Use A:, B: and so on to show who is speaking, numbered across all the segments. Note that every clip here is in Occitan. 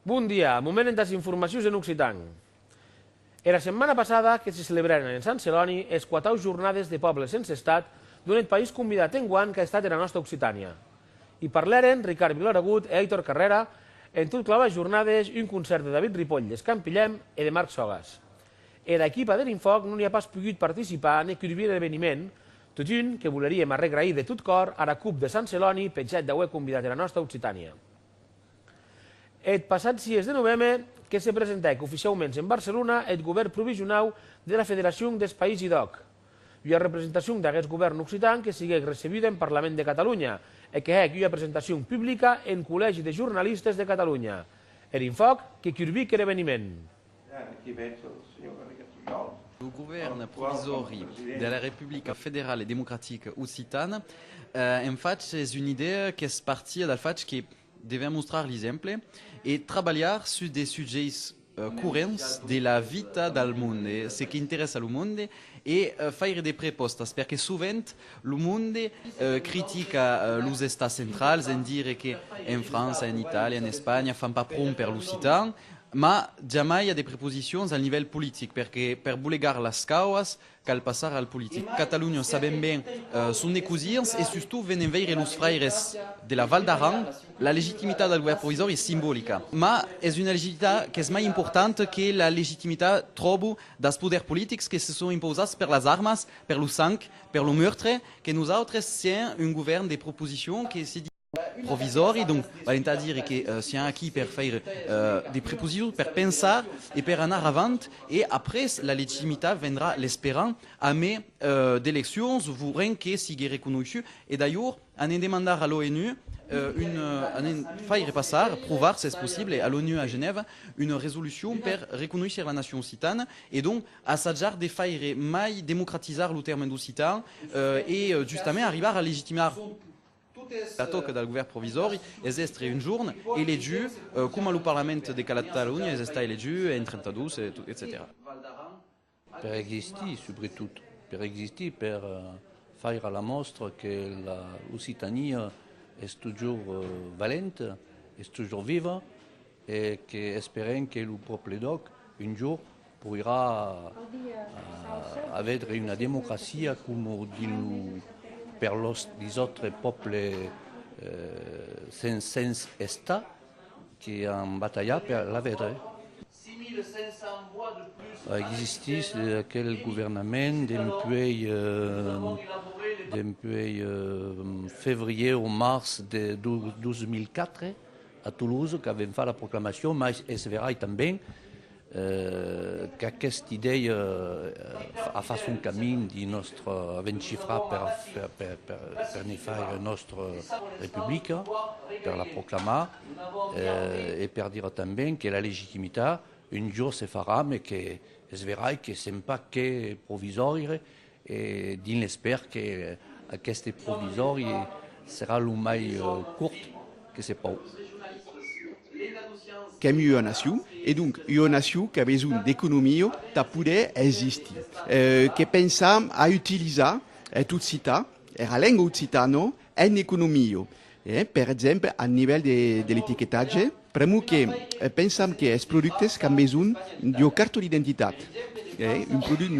A: Bon dia, moment entàs informacions en occitan. Era setmana passada que se celebrèren en Sant Celòni es quatau Jornades de Pòbles Sense Estat, donèt país convidat enguan qu'a estat era nòsta Occitània. I parlèren Ricard Viloaragut e Aitor Carrèra en tot clavar jornades un concèrt de David Ripoll d'Escampilhèm e de Marc Sogas. Era equipa der Infòc non i a pas pogut participar ne curvir er eveniment, totun que voleríem arregrair de tot còr ara Cup de Sant Celòni peth hèt d'auer convidat era nòsta Occitània. Eth passat 6 de noveme que se presentèc oficiauments en Barcelona eth govèrn provisionau dera Federacion des Païsi d'Òc, Ua representacion d'aguest govèrn occitan que siguec recebuda en Parlament de Catalunya e que hec ua presentacion publica en Collègi de Jornalistes de Catalunya. Er infòc que curbic er eveniment.
B: Lo govèrn provisòri de la Republica Federala e Democratica Occitana en fach es una idèa qu'es partia del fach que, Devèm mostrar l'exemple e trabalhar sus de sujèits corrents de la vita del monde, ce qu'interessa lo monde e faire de prepòstas, perque sovent lo monde critica los estats centrals en dire que en França, en Itàlia, en Espanha fan pas pron per l'occitan, mas jamai a de preposicions al nivèl politic, perque per bolegar las cauas, Cal passar al politic. Catalunya sabèm ben son de cosins e sustot venen veire los fraires de la Val d'Aran. La legitimitat del govèrn provisòri es simbolica, mas es una legitimitat qu'es mai importanta que la legitimitat, tròbo, dels poders politics que se son impausats per las armas, per lo sang, per lo meurtre, que nosautres sièm un govèrn de proposicion que se provisòri, donc val entà dire que sián aquí per faire de preposicions, per pensar e per anar avant, e après la legitimitat vendrà l'esperam amé d'eleccions vos ren que sigue reconoishu, e d'alhor anem demandar a l'ONU una, anem faire passar, provar s'es possible, a l'ONU a Genèva una resolucion per reconoisher la nacion occitana e donc assajar de faire mai democratizar lo tèrme d'occitan e justament arribar a legitimar. La tòca del govèrn provisòri es d'èstre un jorn elegiu coma lo parlament de Catalonha es estat elegiu en 32, etcetèra.
C: Per existir, subretot, per existir, per faire la mòstra que la Occitania es totjorn valenta, es totjorn viva e que esperem que lo pòble d'òc un jorn Poirà avedre una democracia coma dinu per los disautres pòbles sens sens estat que an batalhat per l'avedre. Existís aquel governament dempuèi dempuèi fevrier o març de 2004 a Toulouse qu'avèm fach la proclamacion, mas es verai tanben Qu'aqueste idèia a fach son camin dins nòstre avencifrar per ne faire nòstre republica, per la proclamar e per dire tanben que la legitimitat un jorn se farà, mes qu'es verai que se'n pas que provisòria e dins l'espèr que aqueste provisòri serà lo mai cort que se pòu.
D: Qu'èm ua nacion, e donc ua nacion qu'a besonh d'economia tà poder existir, que pensam a utilizar e tot citar era lenga occitana En economia, per exemple, al nivèl de l'etiquetatge, pr'amor que pensam que es productes qu'an besonh d'ua carta d'identitat, un product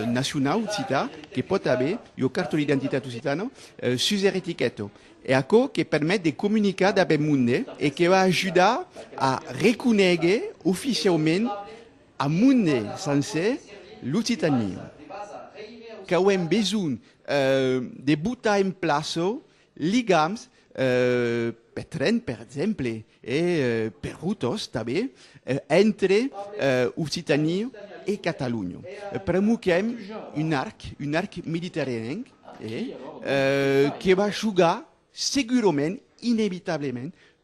D: nacionau occitan que pòt aver ua carta d'identitat occitana sus er etiquèta, es aquò que permet de comunicar dab eth monde e que va ajudar a reconéger oficiaument au monde sencer l'occitania qu'auem besonh. de botar en plaço ligams per tren, per exemple, e per rotors tanben, entre Occitània e Catalonha. Premoquem un arc, un arc mediterranenc, que va jogar segurament, inevitablement,